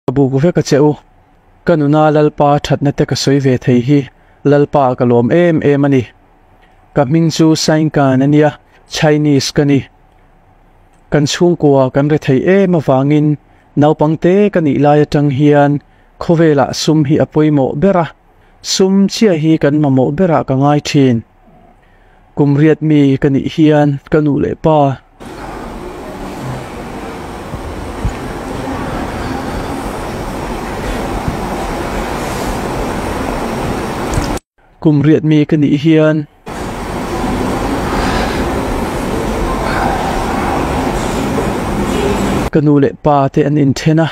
Ka bubu veka che u, ka nuna Lalpa thatna te ka sawi ve thei hi Lalpa ka lawm em em a ni. Ka hming chu Sainkan a nia, Chinese ka ni. Kan chhungkua kan re thei em avangin naupang te ka nih lai atang hian khawvelah sum hi a pawimawh ber a, sum chiah hi kan mamawh berah ka ngai thin. kum riat mi ka nih hian ka nu leh pa kum riat mi ka nih hian ka nu leh pa te an inthen a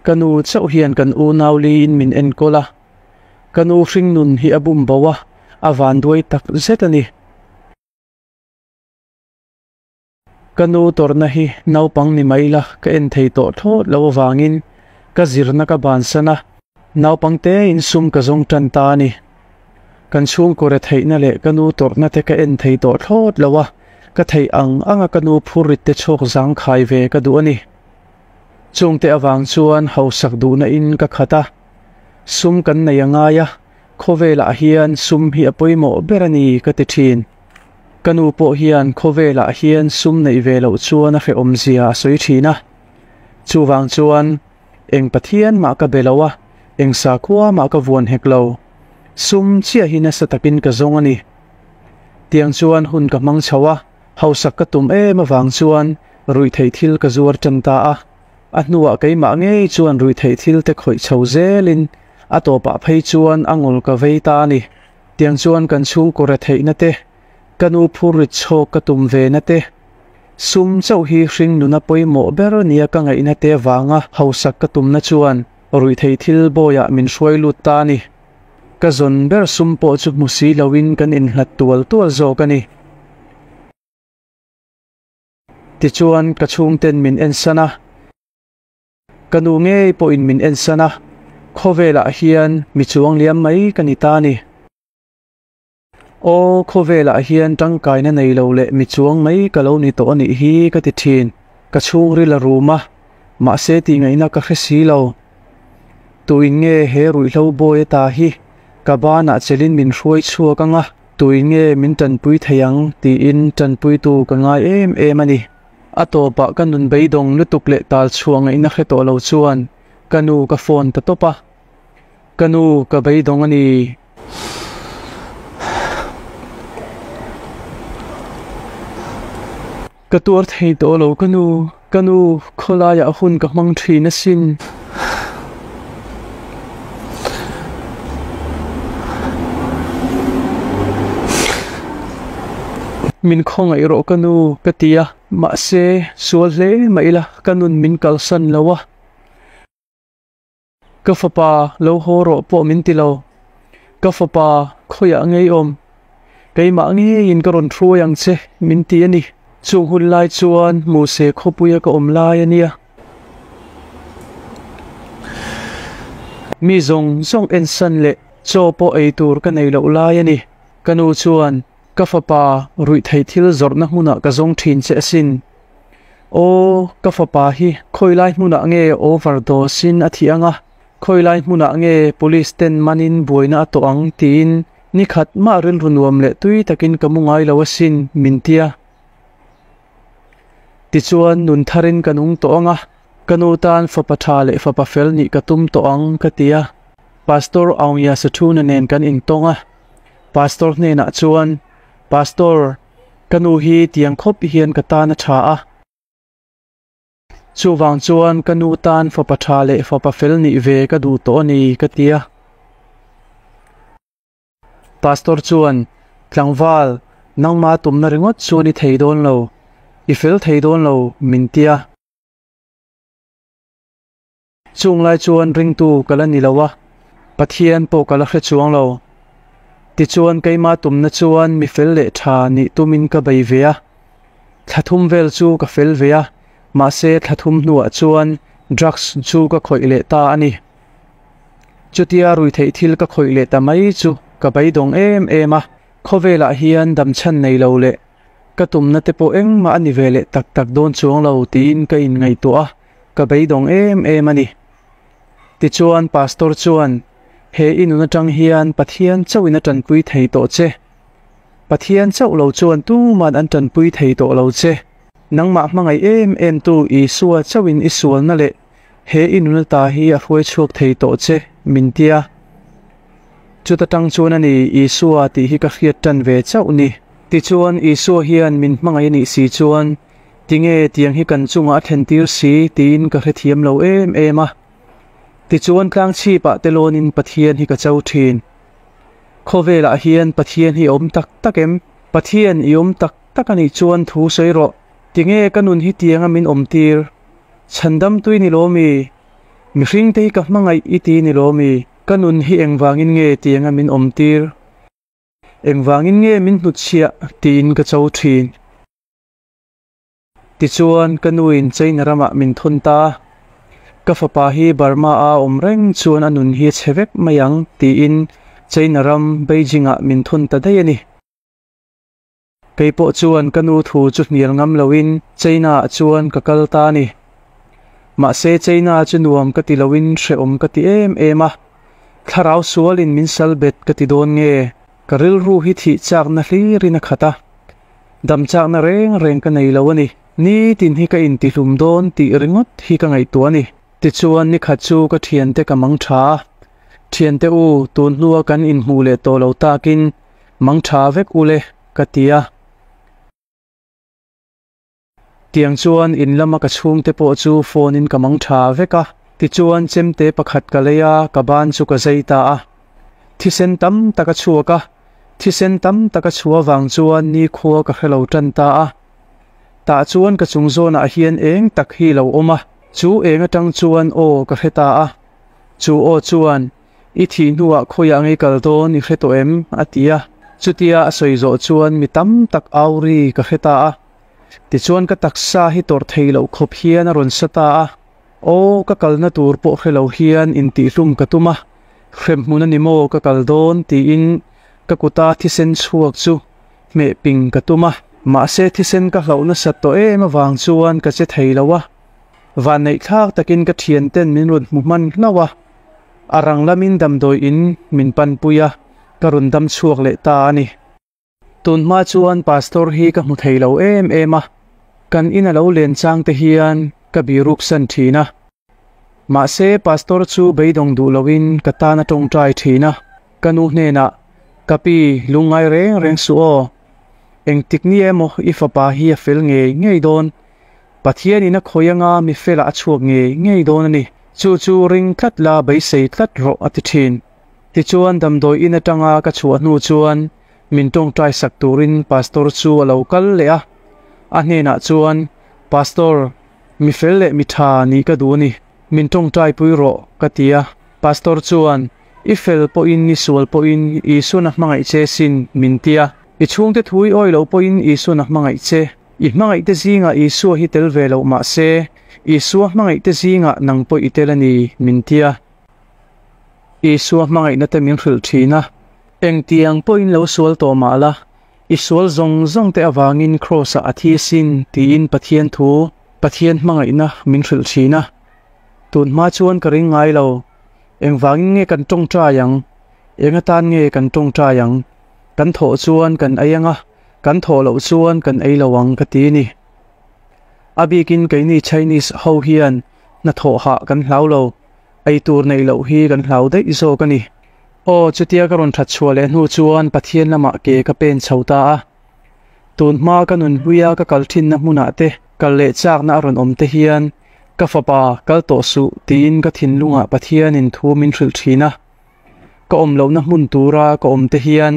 ka nu chauh hian kan unau li in min enkawl a. Ka nu hringnun hi a bum bo a, a vanduai tak zet a ni. Ka nu tawrhna hi naupang ni mai la, ka en thei tawh thlawt lo avangin ka zirna ka bansan a. Naupang te insum ka zawng tan ta a ni. Kan chhungkaw retheihna leh ka nu tawrhna te ka en thei tawh thlawt lo a, ka theih ang anga ka nu phur rit te chhawk zang khai ve ka duh a ni. Chungte avang chuan hausak duhna in ka khat a. Sum kan nei a ngai a, khawvelah hian sum hi a pawimawh ber a ni ka ti thin. Ka nu pawh hian khawvelah hian sum neih ve loh chuan a hrehawmzia a sawi thin a. Chuvang chuan eng Pathian mah ka be lo a, eng sakhua mah ka vuan hek lo. Sum chiah hi nasa takin ka zawng a ni. Tiang chuan hun ka hmang chho a, hausak ka tum em avang chuan ruihtheih thil ka zuar tan ta a. A hnuah keimah ngei chuan ruihtheih thil te khawih chho zelin a tawpah phei chuan a ngawl ka vei ta a ni. Tiang chuan kan chhungkaw re theihna te, ka nu phur rit chhawk ka tum ve na te, sum chauh hi hring nuna pawimawh ber nia ka ngaihna te avanga hausak ka tumna chuan ruihtheih thil bawiah min hruai lut ta a ni. Ka zawn ber sum pawh chu hmu si loin kan inhlat tual tual zawk a ni. Tichuan ka chhungten min en san a, ka nu ngei pawhin min en san a, khawvelah hian mi chuang liam mai ka ni ta ni. Aw, khawvelah hian tangkaina nei lo leh mi chuang mai ka lo ni tawh a nih hi ka ti thin, ka chhungril a rum a, mahse tihngaihna ka hre si lo. Tuinnge he ruihhlo bawi ata hi ka banah chelhin min hruai chhuak ang a. Tui nge min tanpui thei ang? tiin tanpuitu ka ngai em em a ni. A tawpah ka nun beidawng lutuk leh tal chhuah ngaihna hre tawh lo chuan ka nu ka phone ta tawp a, Ka nu, ka beidawng a ni. Ka tuar thei tawh lo ka nu, ka nu, khawlaiah hun ka hmang thin asin. Min khawngaih rawh ka nu ka ti a, mahse sual hle mai ila ka nun min kalsan lo a. Ka fapa lo haw rawh pawh min ti lo. Ka fapa khawiah ngeiawm keimah ngeiin ka rawn hruai ang che min ti a ni. Chung hun lai chuan Muse khawpuia ka awm lai a nia. Mi zawng zawng ensan leh chaw pawh ei tur ka nei loh lai a ni. Ka nu chuan. Ka fapa ruih theih thil zawrhna hmunah ka zawng thin che asin. Aw, ka fapa hi khawilai hmunah nge overdose sin a thih ang a, khawilai hmunah nge police ten manin buaina a tawh ang tiin nikhat mah rilru nuam leh tui takin ka mu ngai lo asin min ti a. Tichuan nun tharin ka nung tawh ang a, ka nu tan fapa tha leh fapa fel nih ka tum tawh ang ka ti a. Pastor Aung Yasatuna nen kan intawng a. Pastor hnenah chuan, Pastor, ka nu hi tiang khawp hian ka tan a tha a. Chuvang chuan ka nu tan fapa tha leh fapa fel nih ve ka duh tawh a ni, ka ti a. Pastor chuan, Tlangval, nangma tumna ringawt chuan i thei dawn lo, i fel thei dawn lo min ti a. Chung lai chuan ringtu ka la ni lo a, Pathian pawh ka la hre chuang lo. Tichuan keimah tumna chuan mi fel leh tha nih tumin ka bei ve a. Thla thum vel chu ka fel ve a, mahse thla thum hnuah chuan drugs chu ka khawih leh ta a ni. Chutia rui theih thil ka khawih leh ta mai chu ka beidawng em em a. Khawvelah hian dam chhan nei lo leh ka tumna te pawh engmah a ni ve leh tak tak dawn chuang lo tiin ka inngaihtuah a, ka beidawng em em a ni. Tichuan Pastor chuan, He i nun atang hian Pathian chauhin a tanpui thei tawh che. Pathian chauh lo chuan tuma'n an tanpui thei tawh lo che. Nangmah hmangaih em em tu Isua chauhin i sualna leh he i nun ata hi a hruaichhuak thei tawh che min ti a. Chuta tang chuan a ni Isua tih hi ka hriat tan ve chauh ni. Tichuan Isua hian min hmangaih a nih si chuan Tinge tiang hi kan chungah a thlentir si tiin ka hrethiam lo em em a. Tichuan tlang chhipah te lawnin Pathian hi ka cho thin. Khawvelah hian Pathian hi a awm tak tak em? Pathian i awm tak tak a nih chuan thu sawi rawh. Tinge ka nun hi tianga min awm tir? Chhandam tui ni lawm i? Mihring te hi ka hmangaih i ti ni lawm i? Ka nun hi engvangin nge tianga min awm tir? Engvangin nge min hnutchhiah tiin ka cho thin? Tichuan ka nu in China ramah min thun ta. Ka fapa hi Burma a awm reng chuan a nun hi a chhe vek mai ang tiin China ram Beijing ah min thun ta daih a ni. Kei pawh chuan ka nu thu chu hnial ngam lo in China ah chuan ka kal ta a ni. Mahse China chu nuam ka ti lo in hrehawm ka ti em em a. Thlarau sual in min sal bet ka ti dawn nge? Ka rilru hi thih chakna hlirin a khat a, dam chakna reng reng ka nei lo a ni. Nitin hi ka intihlum dawn tih ringawt hi ka ngaihtuah a ni. Tichuan nikhat chu ka thiante ka mang tha a, Thiante u, tun hnua kan inhmuh leh tawh lo takin mang tha vek u le, ka ti a. Tiang chuan in lama ka chhung te pawh chu phone in ka mang tha vek a. Tichuan chemte pakhat ka lei a, ka ban chu ka zai ta a. Thisen tam tak a chhuak a. Thisen tam tak a chhu avang chuan nikhua ka hre lo tan ta a. Tah chuan ka chung zawnah hian eng tak hi lo awm a, chu eng atang chuan aw ka hre ta a. Chu aw chuan, I thih hnuah khawiah ngei kal dawn i hre tawh em? a ti a. Chutia a sawi zawh chuan mi tam tak auri ka hre ta a. Tichuan ka taksa hi tawrh thei loh khawp hian a rawn sa ta a, Aw, ka kalna tur pawh hre lo hian intihhlum ka tum a, hrep hmun a ni maw ka kal dawn tiin ka kuta thisen chhuak chu hmeh ping ka tum a. Mahse thisen ka hlauh nasa tawh em avang chuan ka che thei lo a, vanneih thlak takin ka thian ten min rawn hmu hman hlauh a, a rang lamin damdawiin min panpui a, ka rawn dam chhuak leh ta a ni. Tunhma chuan Pastor hi ka hmu thei lo em em a, kan in a lo len chang te hian ka biruksan thin a. Mahse, Pastor chu beidawng duh loin ka tan a tawng ṭai thin a, ka nu hnenah, Ka pi, lungngai reng reng suh aw. Engtik ni emaw i fapa hi a fel ngei ngei dawn. Pathianin a khawih anga mi felah a chhuak ngei ngei dawn a ni. Chu chu ring tlat la beisei tlat rawh, a ti thin. Tichuan damdawi in atanga ka chhuah hnu chuan min tawngtai sak turin Pastor chu a lo kal leh a, a hnenah chuan, Pastor, mi fel leh mi tha nih ka duh a ni, min tawngtaipui rawh ka ti a, Pastor chuan, I fel pawhin i sual pawhin Isuna hmangaih che sin min ti a, i chhungte thu i awilo pawhin Isuna hmangaih che, i hmangaihte zingah Isua hi tel ve loh mahse, Isua hmangaihte zingah nang pawh i tel a ni min ti a. Isua hmangaihna te min hrilh thin a, engtiang pawhin lo sual tawh mah la, i sual zawng zawng te avangin Kraws-ah a thi sin tiin Pathian thu, Pathian hmangaihna min hrilh thin a. Tun hma chuan ka ring ngai lo, engvangin nge kan tawngtai ang? Enga tan nge kan tawngtai ang? Kan thawh chuan kan ei ang a, kan thawh loh chuan kan ei lo ang, ka ti a ni. A bikin keini Chinese ho hian Hnathawh hah kan hlau lo, eitur neih loh hi kan hlau daih zawk a ni. Aw, chutia ka rawn thatchhuah leh hnu chuan Pathian lamah ke ka pen chho ta a. Tunhma ka nun hluia ka kal thinna hmunah te, kal leh chakna a rawn awm te hian, Ka fapa, kal tawh suh, tiin ka thinlungah Pathianin thu min hrilh thin a. Ka awm lohna hmun tura ka awm te hian,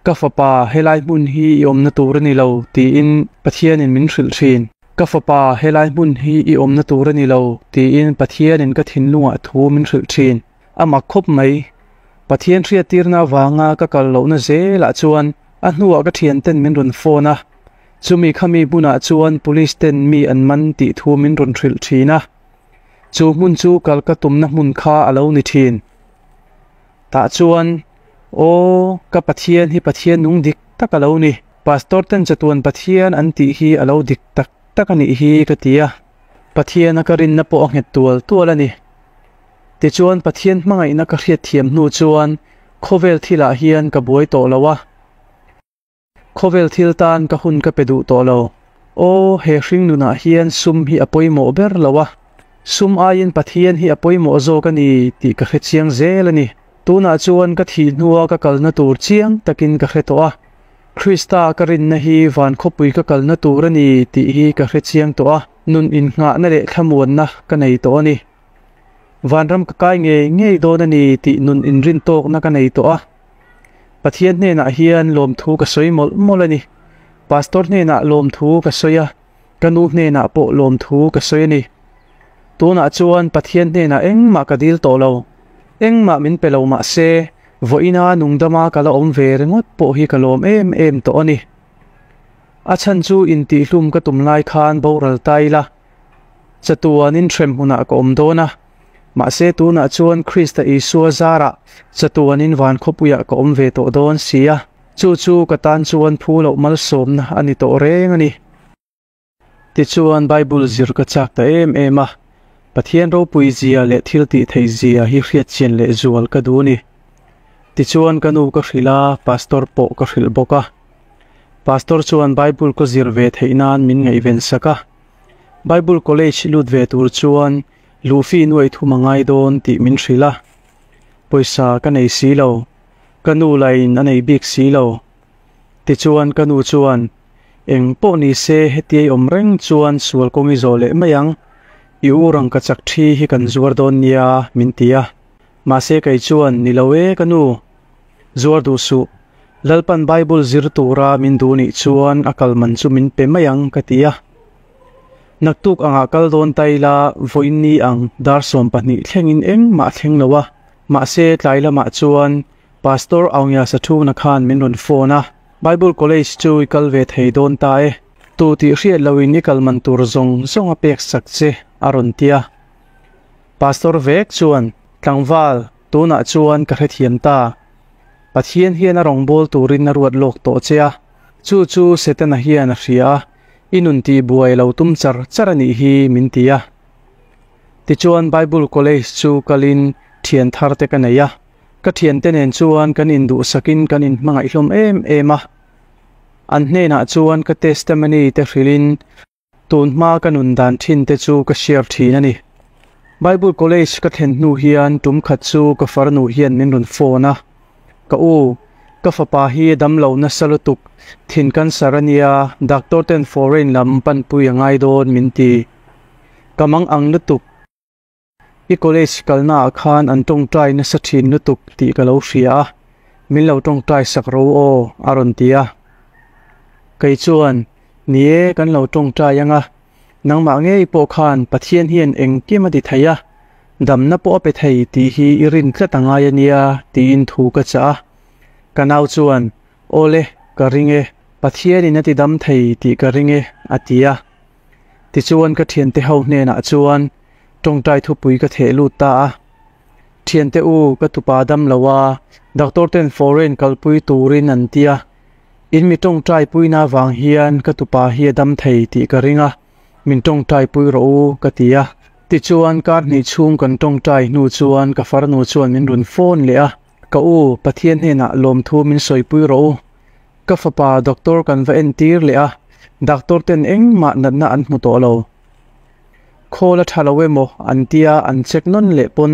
Ka fapa, helai hmun hi i awmna tur a ni lo, tiin Pathianin min hrilh thin. Ka fapa, helai hmun hi i awmna tur a ni lo, tiin Pathianin ka thinlungah thu min hrilh thin. A mak khawp mai. Pathian hriattirna avanga ka kal lohna zelah chuan a hnuah ka thianten min rawn phone a, chumi khami hmunah chuan police ten mi an man tih thu min rawn hrilh thin a. Chu hmun chu kal ka tumna hmun kha a lo ni thin. Tah chuan, Aw, ka Pathian hi Pathian nung dik tak a lo ni. Pastor ten chatuan Pathian an tih hi a lo dik tak tak a nih hi ka ti a, Pathiana ka rinna pawh a nghet tual tual a ni. Tichuan, Pathian hmangaihna ka hriatthiam hnu chuan khawvel thilah hian ka buai tawh lo a. Khawvel thil tan ka hun ka pe duh tawh lo. Aw, he hringnunah hian sum hi a pawimawh ber lo a, sum aiin Pathian hi a pawimawh zawk a ni tih ka hre chiang zel a ni. Tunah chuan ka thih hnua ka kalna tur chiang takin ka hre tawh a. Krista ka rinna hi van khawpui ka kalna tur a ni tih hi ka hre chiang tawh a, nun inngahna leh thlamuanna ka nei tawh a ni. Vanram ka kai ngei ngei dawn a ni tih nun inrin tawkna ka nei tawh a. Pathian hnenah hian lawmthu ka sawi mawlh mawlh a ni. Pastor hnenah lawmthu ka sawi a, ka nu hnenah pawh lawmthu ka sawi a ni. Tunah chuan Pathian hnenah engmah ka dil tawh lo, engmah min pe lo mah se, vawiina nungdama ka la awm ve ringawt pawh hi ka lawm em em tawh a ni. A chhan chu intihhlum ka tum lai khan boral ta ila. chatuanin hrem hunah ka awm dawn a, mahse tunah chuan Krista Isua zarah chatuanin van khawpuiah ka awm ve tawh dawn si a, chu chu ka tan chuan phu loh malsawmna a ni tawh reng a ni. Tichuan Bible zir ka chak ta em em a, Pathian ropui zia leh thiltih theih zia hi hriatchian leh zual ka duh a ni. Tichuan ka nu ka hrilh a, Pastor pawh ka hrilh bawk a. Pastor chuan Bible ka zir ve theih nan min ngaihven sak a. Bible College lut ve tur chuan luh fee nuaih thum a ngai dawn tih min hrilh a. Pawisa ka nei si lo, ka nu lahin a nei bik si lo. Tichuan ka nu chuan, Eng pawh ni se hetia i awm reng chuan sual kawng i zawh leh mai ang, i u rang ka chak thi hi kan zuar dawn nia min ti a. Mahse kei chuan, Ni lo e ka nu, zuar duh suh, Lalpan Bible zir tura min duh nih chuan a kal man chu min pe mai ang ka ti a. Naktuk angah kal dawn ta ila vawiin ni ang dar sawm pahnih thlengin engmah a thleng lo a. Mahse tlai lamah chuan Pastor Aungyasa thungna khan min rawn phone a, Bible College chu i kal ve thei dawn ta e, tu tih hriat loin i kal man tur zawng zawnga pek sak che a rawn ti a. Pastor Vek chuan, Tlangval, tunah chuan ka hrethiam ta. Pathian hian a rawngbâwl turin a ruat lâwk tawh che a, chu chu Setana hian a hria a, i nun tih buai lo tum char char a nih hi min ti a. Tichuan Bible College chu kalin ṭhiantharte ka nei a, ka ṭhiante nen chuan kan induhsakin kan inhmangaihhlawm em em a. An hnênah chuan ka testimony-te hrilhin, Tun hma ka nun dan thin te chu ka share thin a ni. Bible College ka thlen hnu hian tum khat chu ka farnu hian min rawn phone a, Ka u, ka fapa hi damlo nasa lutuk, thin cancer a nia, doctor ten foreign lam panpui a ngai dawn min ti. Ka mang ang lutuk. I college kalna ah khan an tawngtai nasa thin lutuk tih ka lo hria a, min lo tawngtai sak ro aw a rawn ti a. Kei chuan, Ni e, kan lo tawngtai anga, nangmah ngei pawh khan Pathian hian engkim a ti thei a, damna pawh a pe thei tih hi i rin tlat a ngai a nia tiin thu ka chah a. Ka nau chuan, Awle, ka ring e, Pathianin a tidam thei tih ka ring e, a ti a. Tichuan ka thiante ho hnenah chuan tawngtai thupui ka theh lut ta a, Thiante u, ka tupa dam lo a, doctor ten foreign kalpui turin an ti a, in mi tawngtai puina vang hian ka tupa hi a dam thei tih ka ring a, min tawngtai pui rawh u ka ti a. Tichuan kar hnih chhung kan tawngtai hnu chuan ka farnu chuan min rawn phone leh a. Ka u, Pathian hnenah lawmthu min sawipui rawh u. Ka fapa doctor kan va entir leh a, doctor ten engmah natna an hmu tawh lo. Khawla tha lo em aw an tia an check nawn leh pawn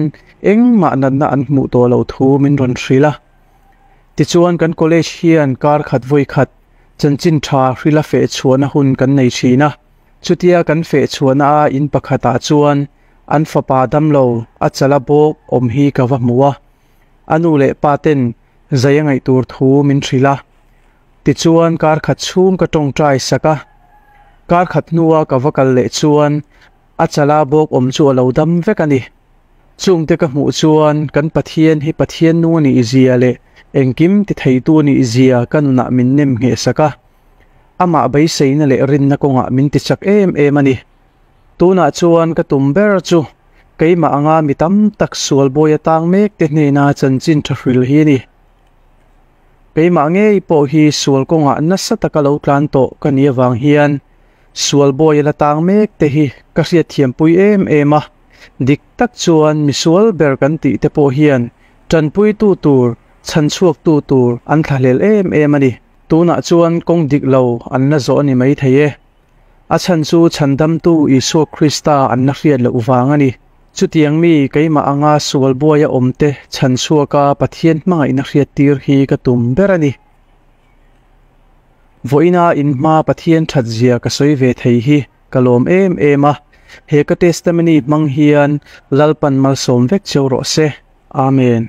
engmah natna an hmuh tawh lo thu min rawn hrilh a. Tichuan kan college hian kar khat vawi khat chanchin tha hrila feh chhuahna hun kan nei thin a, chutia kan feh chhuahna a in pakhatah chuan An fapa damlo a chala bawk awm hi ka va hmu a, a nu leh pa ten zei a ngaih tur thu min hrilh a. Tichuan kar khat chhung ka tawng try sak a, kar khat hnua ka va kal leh chuan a chala bawk awm chu a lo dam vek a ni. Chung te ka hmuh chuan kan Pathian hi Pathian nung a nih zia leh engkim ti theitu a nih zia ka nunah min nem ngheh sak a. Amah beiseina leh rinna kawngah min tichak em em a ni. Tunah chuan ka tum ber chu keimah anga mi tam tak sual bawi atang mek te hnena chanchin tha hrilh hi a ni. Keimah ngei pawh hi sual kawngah nasa taka lo tlan tawh ka nih avang hian sual bawi a la tang mek te hi ka hriatthiampui em em a, dik tak chuan misual ber kan tih te pawh hian tanpuitu tur, chhanchhuaktu tur an thlahlel em em a ni. Tunah chuan kawng dik lo an la zawh a ni mai thei e. A chhan chu chhandamtu Isua Krista an la hriat loh vang a ni. Chutiang mi keimah anga sual buai a awmte chhan chhuaka Pathian hmangaihna hriattir hi ka tum ber a ni. Vawiina in hma Pathian thatzia ka sawi ve thei hi ka lawm em em a. He ka testimony hmang hian Lalpan malsawm vek cio rawh se. Amen.